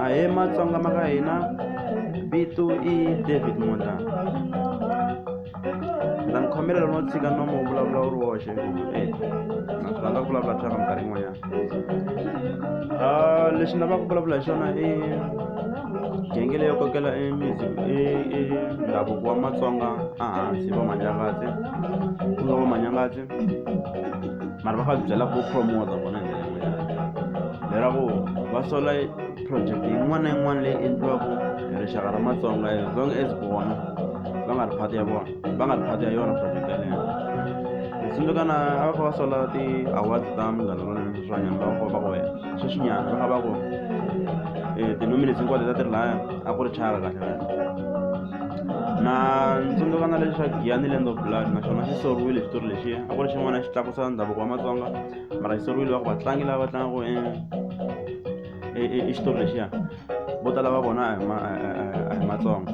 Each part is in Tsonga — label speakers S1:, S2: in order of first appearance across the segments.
S1: ahee matsonga ma ka hina vito i david munda ndza mi khomela lono tshika nomo wu vulavula wu ri woxe e na swi rhandza ku vulavula thyaka minkarhi yin'wanyana ah, lexi ni lavaka ku vulavula hi xona i genge leyo kokela e ndhavuko wa matsonga ehansi vamanyangatsi ku nga vamanyangatsi mara va fa byela ku promota vona hi ndlela yin'wanyana lera ku va sola project yin'wana na yin'wana leyi endliwaka hi rixaka ra matsonga as long as vona va nga ri phati ya vona va nga ri phati ya yona project yaleyo hi tsundzuka na a va kha va sola ti-awards ta munghana lonene sweswiwanyana va va ku wena sweswinyana va kha va ku um tinominis hinkwato ta ti ri laya a ku ri chaka kahle kahle na tsundzuka na leswi swa giyani land of blood naswona xi soriwile xitori lexiya a ku ri xin'wana xi tlakusa ndhavuko wa matsonga mara xi soriwile va ku vatlangi lava va tlangaku i xitori lexiya vo tala va vona a hi matsonga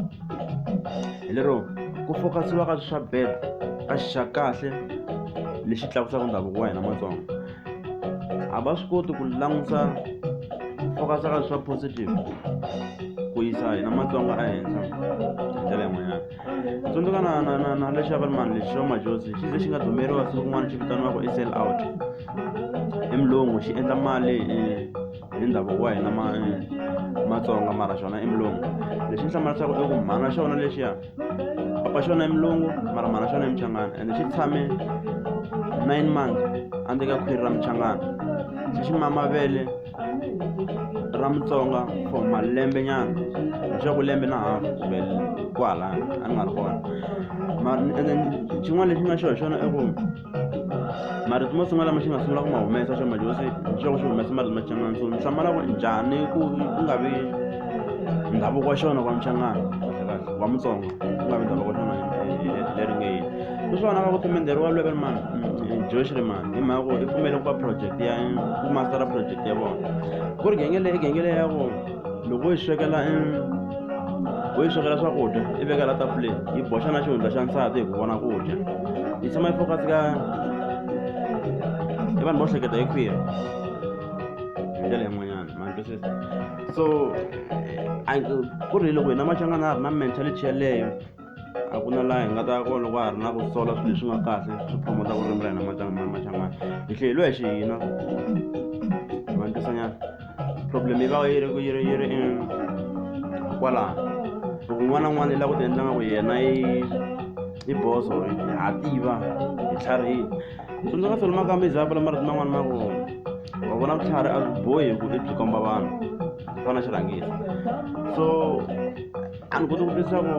S1: hi lero ku fokasiwa ka swa bed a xi xa kahle lexi tlakusaka ndhavuko wa hina matsonga a va swi koti ku langusa fokasa ka swa positive ku yisa hina matsonga ehenhla hi ndlela yin'wanyana tsundzuka na na na na lexi avalmani lexi xo majosi xi ze xi nga dumeriwa siku kun'wana xi vitaniwaka i sell out i mulungu xi endla mali hi ndhavuko wa hina matsonga mara xona i mulungu lexi ni hlamulasaka i ku mhana xona lexiya papa xona i mulungu mara mhana xona i muchangana ende xi tshame nine months endzeni ka khwiri ra muchangana xi xi mama vele ra mutsonga for malembe nyana leswaku lembe na hafu kumbe kwala a ni nga ri kona mara ende xin'wana lexi nga xona xona i ku marito mo sungula lama xi nga sungula ku ma humesa xo ma josi xiloko xi humesa marito machangana so mixamala ku ri njhani ku ku nga vi ndhavuko wa xona wa mchangana wa mutsonga ku nga vi ndhavuko wa xona leri nge yini swona va ku timenderi wa lweve mani josh ri mani hi mhaka ku i pfumele ku va project ya ku mastera project ya vona ku ri genge leyi genge leyi ya ku loko wo yi swekela i wo yi swekela swakudya i veka la tafuleni yi boxa na xihundla xa nsati hi ku vona ku dya yi tshama yi focus ka i vanhu vo hleketa hi khwiri hi ndlela yin'wanyana ma twisisa so ku ri loko hina machangana a ri na mentality yeleyo a ku na laha hi nga ta ya kona loko ha ri na ku sola swilo leswi nga kahle swi promote ku rimela hina machangani hi hleyeliwa hi xihina vantisanyana problem yi va yi ri yi ri yi ri kwalaho loko un'wana na un'wana yi lava ku ti endla nga ku yena yi yi boso ha tiva hi tlharihile tsundzuka solo maka mi za vula marito man'wana ma vona wa vona vutlhari a byi bohi ku i byi komba vanhu ku fana xirhangisi so a ni koti ku twisisa ku